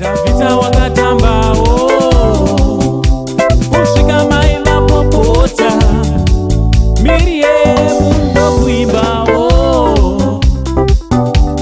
Davita wakatambawo kusvika mai vapopota Miriam ndokuimbawo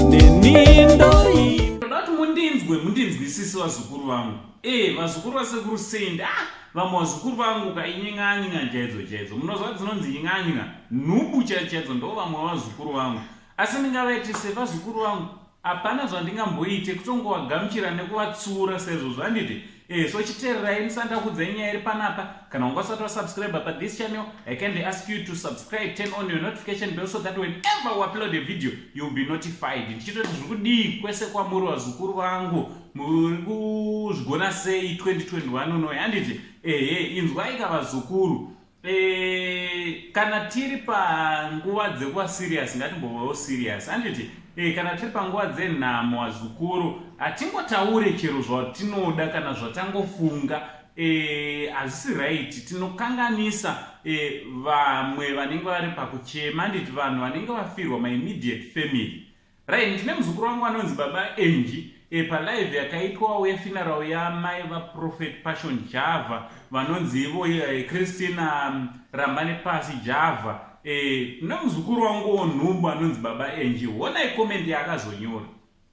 neni ndoimba ndati mundinzwe mundinzwisise vazukuru vangu ee eh, vazukuru vasekuru sendi a ah, vamwe vazukuru vangu kainying'anyinga chaidzo chaidzo munozva dzinonzi nying'anyinga nhubu chaidzo chaidzo ndo vamwe vazukuru vangu asi ndingavaitise vazukuru vangu Hapana zvandingamboite kutongowagamuchira nekuvatsiura sezvo zvanditi eh, so chitererai ndisati ndakuudzai nyaya iri panapa kana wanga usati wasubscribe pa this channel i kindly ask you to subscribe turn on your notification bell so that whenever we upload a video you'll be notified ndichitoti zviri kudii kwese kwamuri vazukuru vangu muri kuzvigona sei 2021 unoyi handiti ehe inzwaika vazukuru E, kana tiri panguva dzekuva serious ngatimbovewo serious handiti e, kana tiri panguva dzenhamo azukuru hatingotaure chero zvatinoda kana zvatangofunga Eh, hazvisi e, raiti tinokanganisa e, vamwe vanenge vari pakuchema nditi vanhu vanenge vafirwa maimmediate family Right, ndine muzukuru wangu anonzi baba Angie e, palive yakaitwawo yefinarau yamai vaprofet passion java vanonzi ivo e, christina mm, rambane pasi java e, eh, nemuzukuru wangu wonhumbu anonzi baba Angie honai komendi yaakazonyora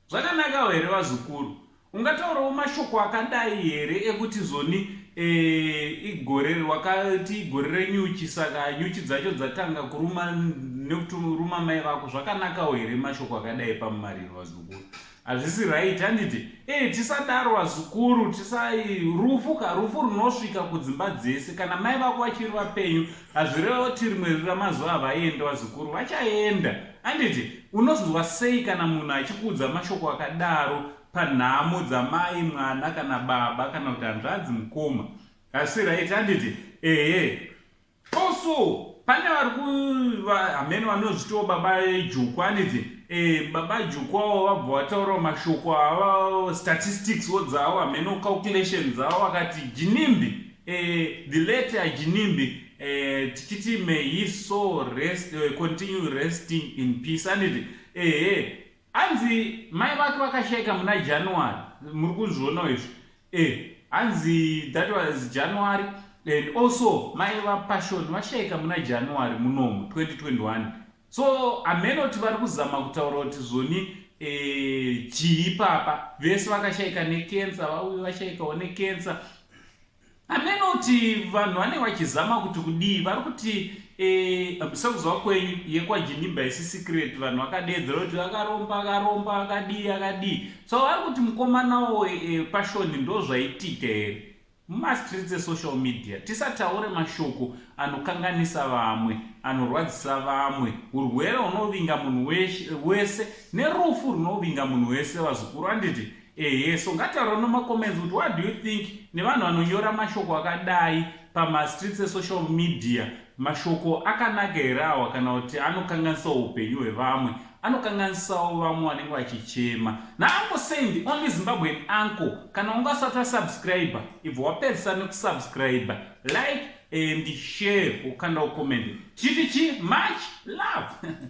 zvakanakawo here vazukuru Ungataurawo mashoko akadai here ekuti zoni e, igore wakati igore renyuchi saka nyuchi dzacho dzatanga kuruma nekuti ruma mai vako zvakanakawo here mashoko akadai pamumariro vazukuru hazvisi right handiti e tisadaro vazukuru tisai rufu ka rufu runosvika kudzimba dzese kana mai vako vachiri vapenyu hazvireva kuti rimwe rira mazuva avaenda vazukuru vachaenda Handiti unozonzwa sei kana munhu achikuudza mashoko akadaro panhamo dzamai mwana kana baba kana kuti hanzvadzi mukoma asi right handiti ehe also pane vari kuamene vanozvitiwo baba juku handiti eh, baba juku avo vabva vataurawo mashoko ava statistics wo dzavo amene calculation dzavo vakati jinimbi eh, the late ajinimbi Eh, tichiti may he so rest, uh, continue resting in peace anditi ehe hanzi mai vake vakashaika muna january muri kuzvionawo izvi eh hanzi that was january and also mai vapassion vashaika muna january munomu 2021 so amene kuti vari kuzama kutaura kuti zvoni eh, chii papa vese vakashaika nekensa vauye vashaikawo nekensa Hameno kuti vanhu vane vachizama kuti kudii vari kuti eh, sekuzwa kwenyu yekwajinimba isi secret vanhu vakadeedzera kuti akaromba akaromba akadii akadii so vari kuti mukomanawo eh, pashoni ndo zvaitika here mumastreets esocial media tisataure mashoko anokanganisa vamwe anorwadzisa vamwe urwere hunovinga munhu wese nerufu runovinga munhu wese vazukuru anditi ehe so ngataura nomacomments kuti what do you think nevanhu vanonyora mashoko akadai pamastreets esocial media mashoko akanaka here awa kana kuti anokanganisawo upenyu hwevamwe anokanganisawo vamwe vanenge vachichema naanko sendi only zimbabwean anko kana unge asati wasubscribe ibva wapedzisa nekusubscribe like and share ukanda ucomment chiti chi much love